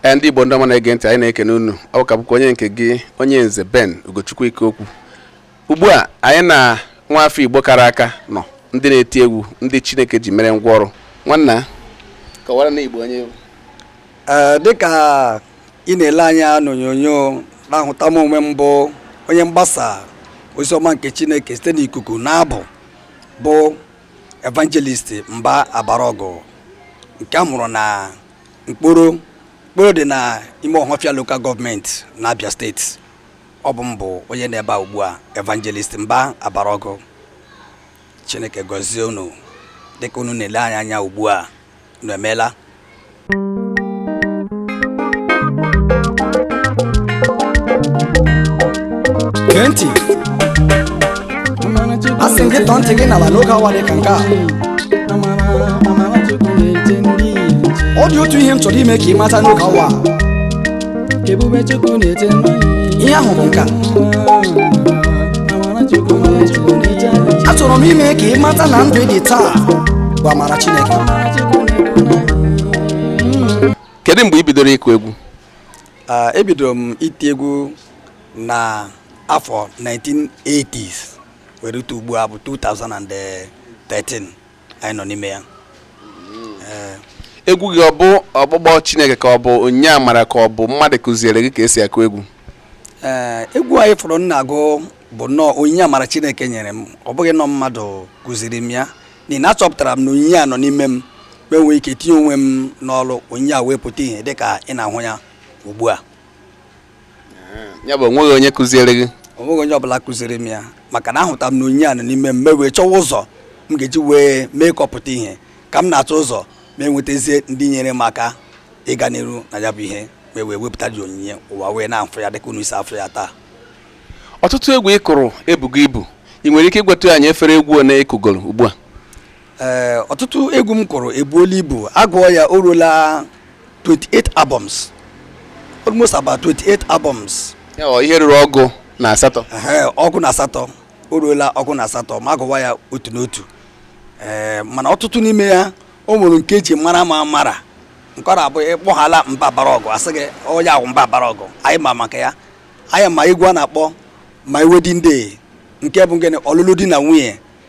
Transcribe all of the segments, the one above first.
ee ndị igbo ndị ọma na-ege ntị anyị na-ekene unu ọ ka bụkwa onye nke gị onye nze ben ugochukwu ikeokwu ugbu a anyị na nwa afọ igbo kara aka nọ ndị na-eti egwu ndị chineke ji mere ngwa ọrụ nwanna kọwara ndị igbo onye ị bụ ee dịka ị na-ele anya n'onyonyo na-ahụta m onwe m bụ onye mgbasa ozi ọma nke chineke site n'ikuku na abụ bụ evangelist mba abaraọgụ nke a mụrụ na nkporo nkporo dị na ime ọhafịa local government na abia steeti ọ bụ m bụ onye nọ ebe a ugbu a evangelist mba abaraọgụ chineke gọzie unu dịka unu na-ele anyị anya ugbu a unu emeela gee ntị asị m gị tọọ ntị gị n'ala n'oge awa dị ka nke a ọ dị otu ihe m chọrọ ime ka ị mata n'oge awa a. Ebube Chukwu na-ete mmanya ihe ahụ bụ nke a Amara Chukwu na-ete mmanya achọrọ m ime ka ị mata na ndụ ị dị taa bụ amara chineke Amara Chukwu na-ete mmanya kedu mgbe ị bidoro ịkụ egwu Ah, ebidoro m iti egwu na afọ 1980s wee rute ugbu a bụ 2013 anyị nọ n'ime ya Ee, egwu gị ọ bụ ọkpụkpọ chineke ka ọ bụ onyinye amara ka ọ bụ mmadụ kụziere gị ka esi akụ egwu ee, egwu anyị fụrụ m na-agụ bụ nnọọ onyinye amara chineke nyere m ọ bụghị na ọ mmadụ kụziri m ya n'ihi na achọpụtara m na onyinye a nọ n'ime m mụ enwee ike tinye onwe m n'ọrụ onyinye a wee pụta ihe dịka ị na-ahụ ya ugbu a ya bụ onweghị onye kụziere gị onweghị onye ọbụla kụziri m ya maka na ahụta m na onyinye a nọ n'ime m mụ ewee chọwa ụzọ m ga-eji wee mee ka ọ pụta ihe ka m na-achọ ụzọ mụ enwetazie ndị nyere m aka ịga n'iru na ya bụ ihe mụ ewee wepụta dị onyinye ụwa wee na-afụ ya dịka unu si afụ ya taa ọtụtụ egwu ị kụrụ ebugo ibu ị nwere ike ịgwatụ anyị efere egwu one ị kụgoro ugbu a ee eh, ọtụtụ egwu m kụrụ ebuola ibu agụọ ya o ruola 28 albums almost about 28 albums ihe ruru ọgụ na asatọ ọgụ na asatọ o ruola ọgụ na asatọ ma agụwa ya otu n'otu ee eh, mana ọtụtụ n'ime ya o nwere nke eji mara m amara nke ọ na-abụ ị kpọghala mba abaraọgụ asị gị onye ahụ mba abaraọgụ anyị ma maka ya anyị ma egwu a na-akpọ my wedding day nke bụ gịnị ọlụlụ di na nwunye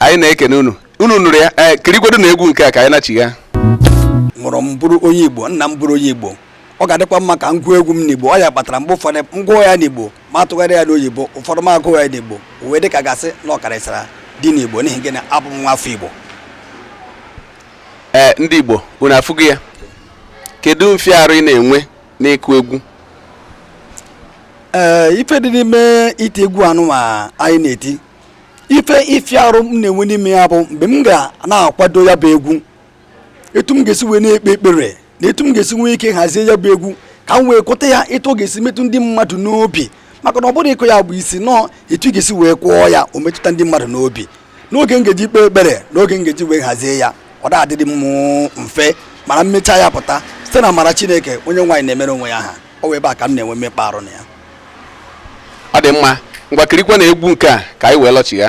anyị na-ekene unu unu nụrụ ya ee eh, kirikwedu na egwu nke a ka anyị nachigha mụrụ m bụrụ onye igbo nna m bụrụ onye igbo ọ ga-adịkwa mma ka m gụọ egwu m n'igbo ọ ya kpatara mgbe ụfọdụ m gụọ ya n'igbo m atụgharịa ya n'oyibo ụfọdụ m agụọ ya n'igbo wee dị ka a ga-asị na ọ karịsịra dị n'igbo n'ihi gịnị abụ m nwa afọ igbo ee eh, ndị igbo unu afụgo ya kedu mfiarụ ị na-enwe n'ịkụ egwu ee eh, ife dị n'ime iti egwu anụnwa anyị na-eti ife ifiarụ m na-enwe n'ime ya bụ mgbe m ga na-akwado ya bụ egwu etu m ga-esi wee na-ekpe ekpere na etu m ga-esi nwee ike hazie ya bụ egwu ka m wee kụta ya etu ọ ga-esi metụ ndị mmadụ n'obi maka na ọ bụrọ ịkụ ya bụ isi na ọ etu ị ga-esi wee kụọ ya o metụta ndị mmadụ n'obi n'oge m ga-eji kpee ekpere n'oge m ga-eji wee hazie ya ọ da adịdị m mfe mana m mecha ya pụta site na amara Chineke onye nwe anyị na-emere onwe ya aha ọ bụ ebe a ka m na-enwe mmekpa arụ na ya ọ dị mma ngwa kirikwa na egwu nke a ka anyị wee lọchigha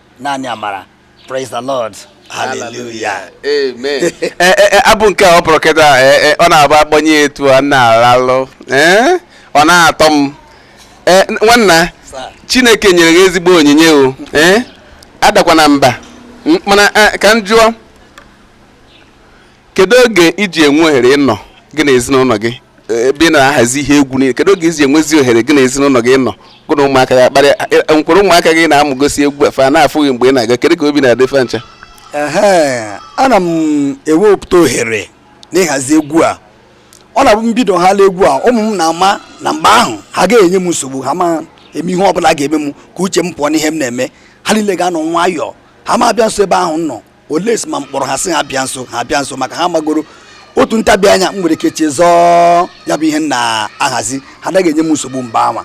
naanị amara praise the lord hallelujah amen eh, eh, eh, abụ nke a ọ bụrụ kịta ọ na-abụ a kpọnye etu a na-alalụ ọ na-atọ m nwanna chineke nyere gị ezigbo onyinye o adakwana mba mana ka m jụọ kedu oge i ji enwe ohere ịnọ gị na ezinụlọ gị ebe ị na-ahazi ihe egwu niile kedu oge i ji enwezi ohere gị na ezinụlọ gị nọ gị na ụmụaka gị akparị m kwere ụmụaka gị na-amụgosi egwu a fa na-afụ gị mgbe ị na-aga kedu ka obi na-adị fa ncha ana m ewepụta ohere n'ịhazi egwu a ọ na-abụ m bidohala egwu a ụmụ m na-ama na mgbe ahụ ha ga-enye m nsogbu ha ma eme ihe ọ bụla ga-eme m ka uche m pụọ n'ihe m na-eme ha niile ga-anọ nwayọọ ha ma abịa nso ebe ahụ m nọ belụsọ ma m kpọrọ ha sị ha bịa nso ha bịa nso maka ha magoro otu ntabi anya m nwere ike chezọọ ya bụ ihe m na-ahazi ha anaghị enye m nsogbu mba kama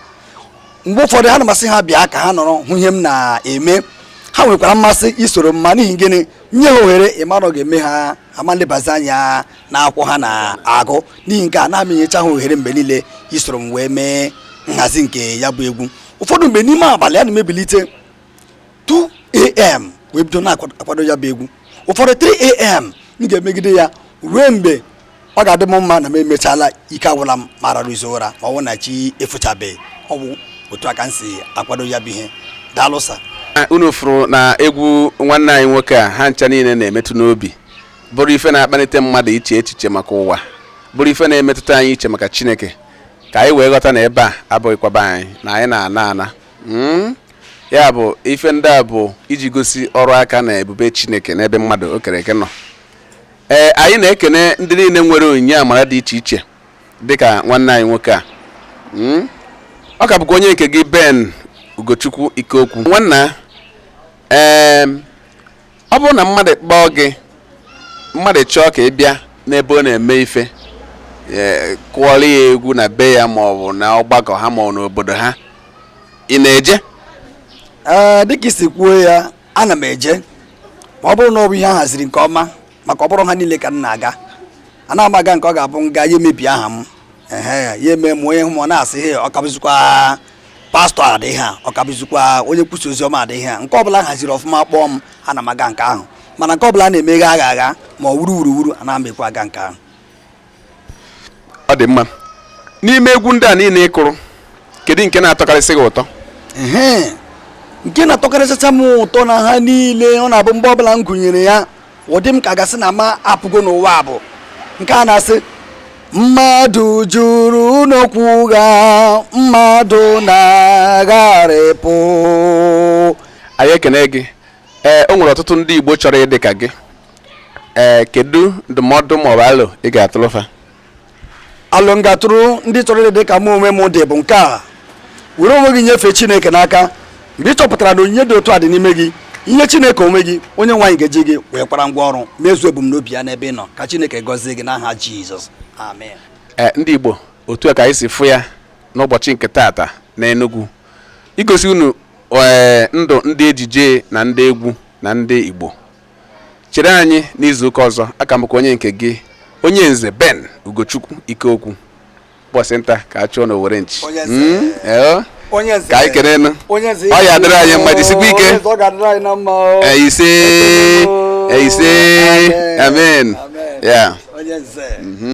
mgbe ụfọdụ ọ na-amasị ha ịbịa ka ha nọrọ hụ ihe m na-eme ha nwekwara mmasị isoro m ma n'ihi gịnị nye ha ohere ị mara ọ ga-eme ha ama elebazi anya na akwụkwọ ha na-agụ n'ihi nke a anaghị m enyecha ha ohere mgbe niile isoro m wee mee nhazi nke ya bụ egwu ụfọdụ mgbe n'ime abalị a na m ebilite 2am wee bido na-akwado ya bụ egwu ụfọdụ 3am m ga-emegide ya ruo mgbe ọ ga-adị m mma na m emechala ike agwụla m m ararụzie ụra ma ọ bụ na chi efochabeghị ọ bụ otu a ka m si akwado ya bụ ihe daalụ sir, unu fụrụ na egwu nwanne anyị nwoke a ha ncha niile na-emetụ n'obi bụrụ ife na-akpalite mmadụ iche echiche maka ụwa bụrụ ife na-emetụta anyị iche maka chineke ka anyị wee ghọta na ebe a abụghịkwa be anyị na anyị na-ana ana hmm? ya bụ ife ndị a bụ iji gosi ọrụ aka na ebube chineke n'ebe mmadụ o kere eke nọ ee anyị na-ekene ndị niile nwere onyinye amara dị iche iche dịka nwanne anyị nwoke a hmm? ọ ka bụkwa onye nke gị ben ugochukwu ikeokwu nwanna ee ọ bụrụ na mmadụ kpọọ gị mmadụ chọọ ka ị bịa n'ebe ọ na-eme ife e, kụọrọ ya egwu na be ya ma ọ bụ na ọgbakọ ha ma ọ n'obodo ha ị na-eje ee dịka i si kwuo ya ana m eje ma ọ bụrụ na ọ bụ ihe a haziri nke ọma maka ọ bụrọ ha niile ka m na-aga anaghị m aga nke ọ ga-abụ m gaa ya emebie aha m ehe ya eme m onye hụ m ọ na-asị he ọ ka bụzikwa pastọ adịghị a ọ ka bụzikwa onye nkwusa ozi ọma adịghị a nke ọbụla haziri ọfụma kpọọ m ana m aga nke ahụ mana nke ọbụla na-emeghe agha agha ma ọ wuru wuru wuru anaghị m ekwe aga nke ahụ ọ dị mma n'ime egwu ndị a niile ị kụrụ kedu nke na-atọkarịsị gị ụtọ Ehe. nke na-atọkarịsịcha m ụtọ na ha niile ọ na-abụ mgbe ọbụla m gụnyere ya ọ dị m ka a ga-asị na m apụgo n'ụwa bụ nke a na-asị mmadụ juru n'okwu ụgha mmadụ na-agharịpụ anyị ekene gị ee o nwere ọtụtụ ndị igbo chọrọ ịdị ka gị ee kedu ndụmọdụ maọbụ alo ị ga-atụlụ fa alo m ga-atụrụ ndị chọrọ ịdị dị ka mụ onwe m dị bụ nke a were onwe gị nyefee chineke n'aka mgbe ị chọpụtara na onyinye dị otu a dị n'ime gị i nye chineke onwe gị onyenwe anyị ga-eji gị wee kwara ngwa ọrụ mezuo ebumnobi ya n'ebe ị nọ ka chineke gọzie gị n'aha jizọs amen ee eh, ndị igbo otu a ka anyị si fụ ya n'ụbọchị nke taata na Enugu igosi unu ee eh, ndụ ndị ejije na ndị egwu na ndị igbo chere anyị n'izuụka ọzọ aka m onye nke gị onye nze Ben Ugochukwu Ikeokwu bọsị nta ka a chụọ n'owere nchi hmm? ka anyị kenenụ ọ ya-adịrị anyị mma jisikwa ike ise ise amen ya mhm.